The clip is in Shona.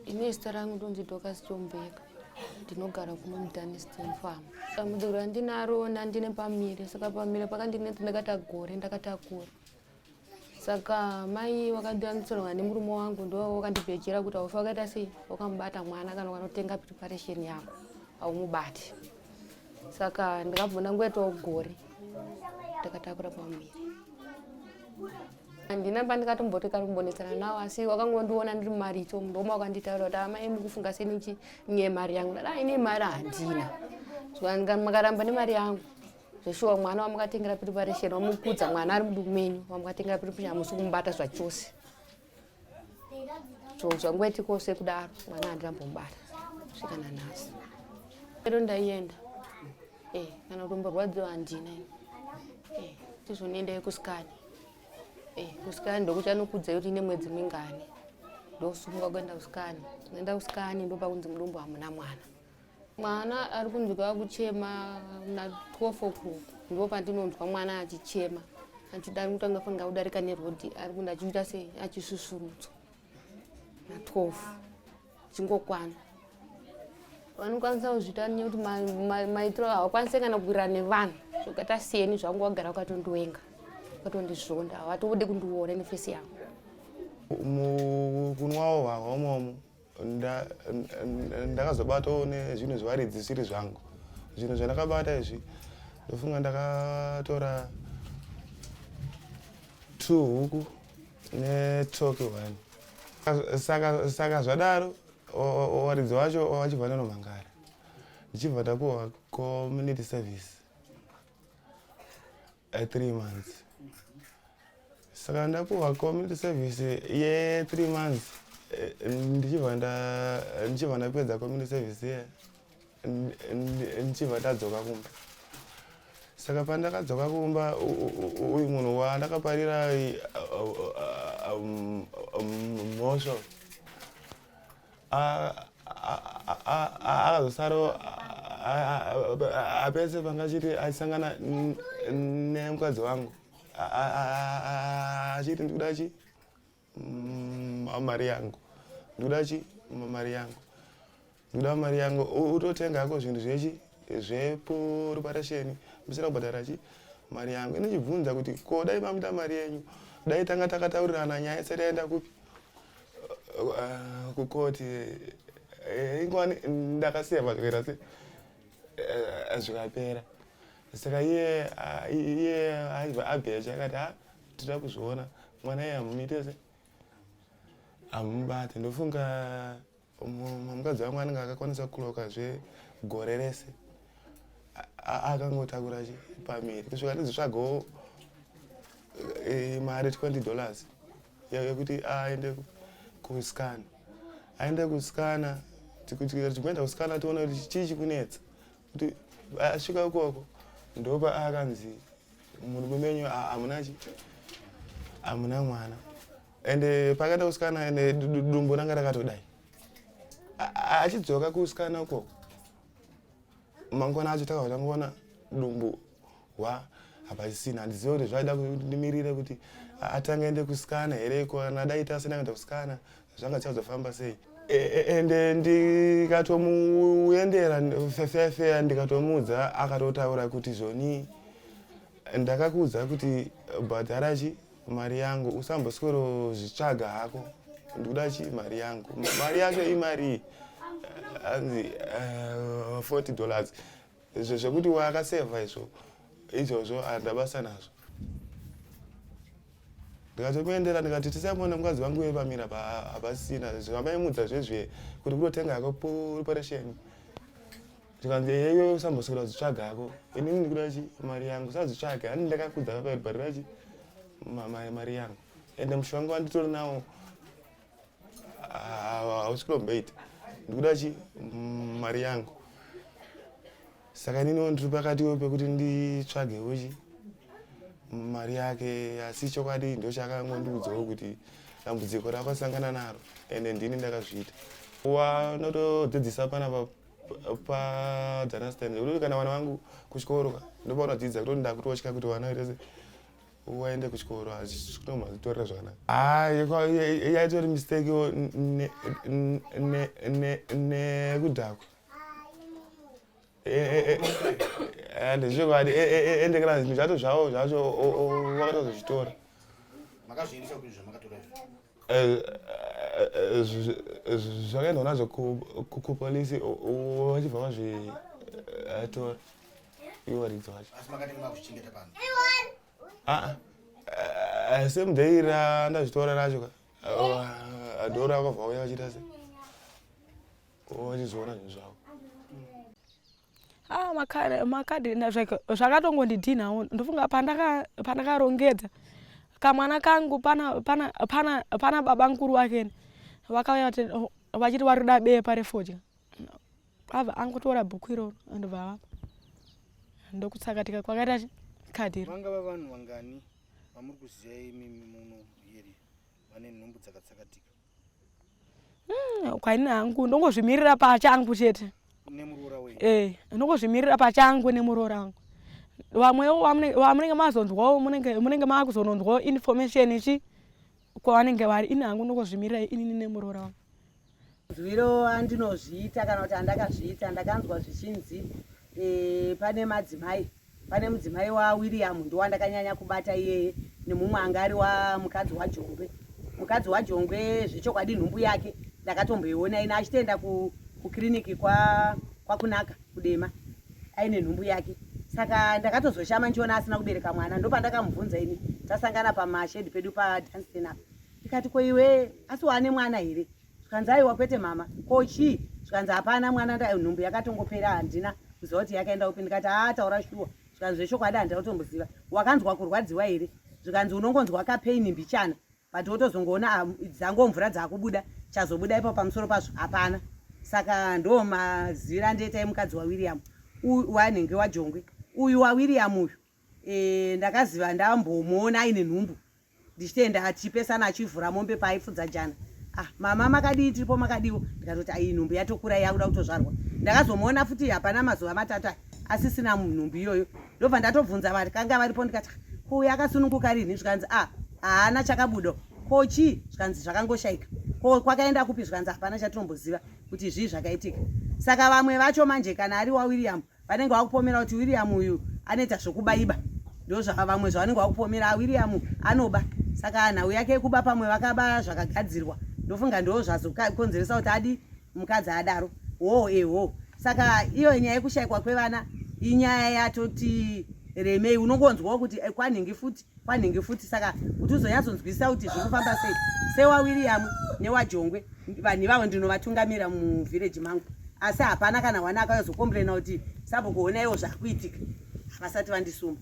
ine zita rangu ndonzi dokas chombeka ndinogara kuno mudaniston farm dambudziko randinarona ndine pamire saka pamire pakandinetsa ndakata gore ndakatakura saka mai wakandianisirwa nemurume wangu ndo wakandibhejera kuti aufi wakaita sei wakamubata mwana kana ukanotenga preparation yako aumubati saka ndikabvona ngoitawo gore ndakatakura pamuviri handina pandikatomboti kari kumbonetsana nawo asi wakangondiona ndiri mumaricho mudoma wakanditaura kuti amai mukufunga senichi nye mari yangu dada ine mari handina makaramba nemari yangu zveshuwa mwana wamukatengera piri paresheni wamukudza mwana ari muduku menyu wamukatengera piri piri hamusi kumubata zvachose so zvangweti kose kudaro mwana handinambomubata svika nanhasi ero ndaienda eh, kana kuti mborwadziwa handina eh, tizvoniendai kusikani eh, kusikani ndokuchanokudza yoti ine mwedzi mingani ndosumuka kuenda kusikani kuenda kusikani ndopakunzi mudumbu hamuna mwana mwana ari kunzwa kuchema na 12 o'clock ndipo pandinonzwa mwana achichema achida ari kutanga fanga kudarika nerhodhi ari kunda achiita se achisusurudzwa na 12 chingokwana vanokwanisa kuzvita nye kuti maitiro havakwanise kana kukwira nevanhu zvokata siyeni zvangu wagara ukatondiwenga ukatondizvonda havatode kundiona nefesi yangu kunwawo hwahomomo ndakazobatawo nezvinhu zvevaridzi zvisiri zvangu zvinhu zvandakabata izvi ndofunga ndakatora two huku netoki one saka zvadaro waridzi wacho wachibva nanomhangara ndichibva ndapuwa community service e three months saka ndakuva community service ye three months e, ndichibva ndichibva ndapedza community service ye ndichibva ndadzoka kumba saka pandakadzoka kumba uyu munhu wandakaparira mhosvo akazosaro apese pangachiti achisangana nemukadzi wangu achiti ndikuda chi mari yangu ndikuda chi mari yangu ndikuda mari yangu utotenga hako zvinhu zvechi zveporuparasheni musina kubhadhara chi mari yangu inochibvunza kuti ko dai mamuda mari yenyu dai tanga takataurirana nyaya isati yaenda kupi Uh, kukoti eh, ingwani ndakasiya pakupera se eh, zvikapera saka iye ah, iye aiva abhecha akati ha ah, tida kuzviona mwana iye hamumiite se hamubate ndofunga mukadzi wangu anenge akakwanisa kuloka zve gore rese akangotakura chi pamiri kusvika ndizvitsvagawo eh, mari 20 dollars yekuti aende kuskana aende kuskana tichienda kuskana tiona kuti chii chikunetsa kuti asvika ikoko ndopa akanzi murume menyu hamuna chi hamuna mwana ende pakaenda kuskana ende dumbu ranga rakatodai achidzoka kuskana ukoko mangwana acho takabva tangoona dumbu wa hapasisina handizive kuti zvaida kuti ndimirire kuti atange aende kusikana here ko kana dai tasina kuenda kusikana zvanga tichazofamba sei e, e, ende ndikatomuendera fefefe ndikatomuudza akatotaura kuti zvoni ndakakuudza kuti bhadharachi mari yangu usamboswero zvitsvaga hako ndikuda chii mari yangu mari yacho imarii hanzi uh, eh, 40 dollars izvo zvekuti waakasevha izvo izvozvo andabasa nazvo ndikatokuendera ndikati tisamuona mukadzi vangu uye pamira hapasina zvambaimudza zvezve kuti kutotenga hako preparation zvikanzi eyeyo usamboswera zvitsvaga hako ini ndikuda chi mari yangu sazvitsvage ani ndakakudza papa iribharira chi mari yangu ende mushu wangu wanditori nawo hausi kulomboita ndikuda chi mari yangu saka ininiwo ndiri pakatiwo pekuti nditsvagewo chi mari yake asi chokwadi ndochakangondiudzawo kuti dambudziko rakwasangana naro ende ndini ndakazviita wanotodzidzisa panapa paunderstand uri kana vana vangu kuchikoro ndopaunodzidza kutoti ndakutotya kuti vana vaitese waende kuchikoro hazvinomazitorera zvakanaka ah, yaitori mistake nekudhakwa and zvekwadi ende kana zvinhu zvato zvavo zvacho wakatozozvitora Eh, eh, zv- eh, zv- zvakaendwa nazvo ku- ku- kupolisi o- o- vachibva vazvitora ivo varidzi vacho asi makatenge makuchengeta pano Ah, ah, same day ra ndazvitora racho ka Ah, adora vakabva vauya vachiita se vachizviona zvinhu zvavo ah, makadini ma zvakatongondidhinhawo ndofunga pandakarongedza kamwana kangu pana, pana, pana, pana baba nkuru wakeni vakauya vachiti vari kuda bepa refodya ava angotora bhuku iroro andobva avapa ndokutsakatika kwakaita kadhiro vangava vanhu vangani vamuri kuziva imi muno here vane nhumbu dzakatsakatika hmm, kwaini hangu ndongozvimirira pachangu chete eh, ndongozvimirira pachangu nemuroora wangu vamwewo vamunenge mazonzwawo munenge maakuzononzwawo information ichi kwavanenge vari ini hangu ndongozvimirira inini nemuroora wangu nzwiro andinozviita kana kuti andakazviita ndakanzwa zvichinzi e, pane madzimai Pane mudzimai waWilliam ndowandakanyanya kubata iyeye nemumwe anga ari wamukadzi waJongwe. Mukadzi waJongwe zvechokwadi nhumbu yake ndakatomboiona ina achitoenda ku, kukiriniki kwa, kwakunaka kudema aine nhumbu yake saka ndakatozoshama ndichiona asina kubereka mwana ndopandakamubvunza ini tasangana pamashedi pedu padansten apa ndikati ko iwe asi waane mwana here zvikanzi aiwa kwete mama ko chii zvikanzi hapana mwana nda nhumbu yakatongopera handina kuziva kuti yakaenda upi ndikati haa taura shuwa zvikanzi zvechokwadi handina kutomboziva wakanzwa kurwadziwa here zvikanzi unongonzwa kapaini mbichana but wotozongoona ah, dzango mvura dzakubuda chazobuda ipo pamusoro pazvo hapana saka ndo mazivira ndoita yemukadzi wawiriam wanenge wajongwe uyu wawiriam uyu eh, ndakaziva ndambomuona aine nhumbu ndichitenda achipesana achivhura mombe paaifudza jana ah, mama makadii tiripo makadiwo ndikatoti ayi nhumbu yatokura yakuda kutozvarwa ndakazomuona futi hapana mazuva matatu asisina nhumbu iyoyo ndobva ndatobvunza vakanga varipo ndikati ko uyo akasununguka rinhi zvikanzi a ah, haana chakabudo ko chii zvikanzi zvakangoshaika ko kwakaenda kupi zvikanzi hapana chatinomboziva kuti zvii zvakaitika saka vamwe vacho manje kana ari wawilliam wa vanenge vakupomera kuti william uyu anoita zvokubaiba ndozvaka vamwe zvavanenge vakupomera ah, william anoba saka nhau yake yekuba pamwe vakaba zvakagadzirwa ndofunga ndoo zvazokonzeresa kuti adi mukadzi adaro hoo ehoo saka iyo nyaya yekushayikwa kwevana inyaya yatoti remei unongonzwawo kuti eh, kwanhingi futi kwanhingi futi saka kuti uzonyatsonzwisisa kuti zviri kufamba sei sewawiriam newajongwe vanhu ivavo ndinovatungamira muvhireji mangu asi hapana kana wana akazokomburena kuti sabhukuona iwo zvakuitika havasati vandisumba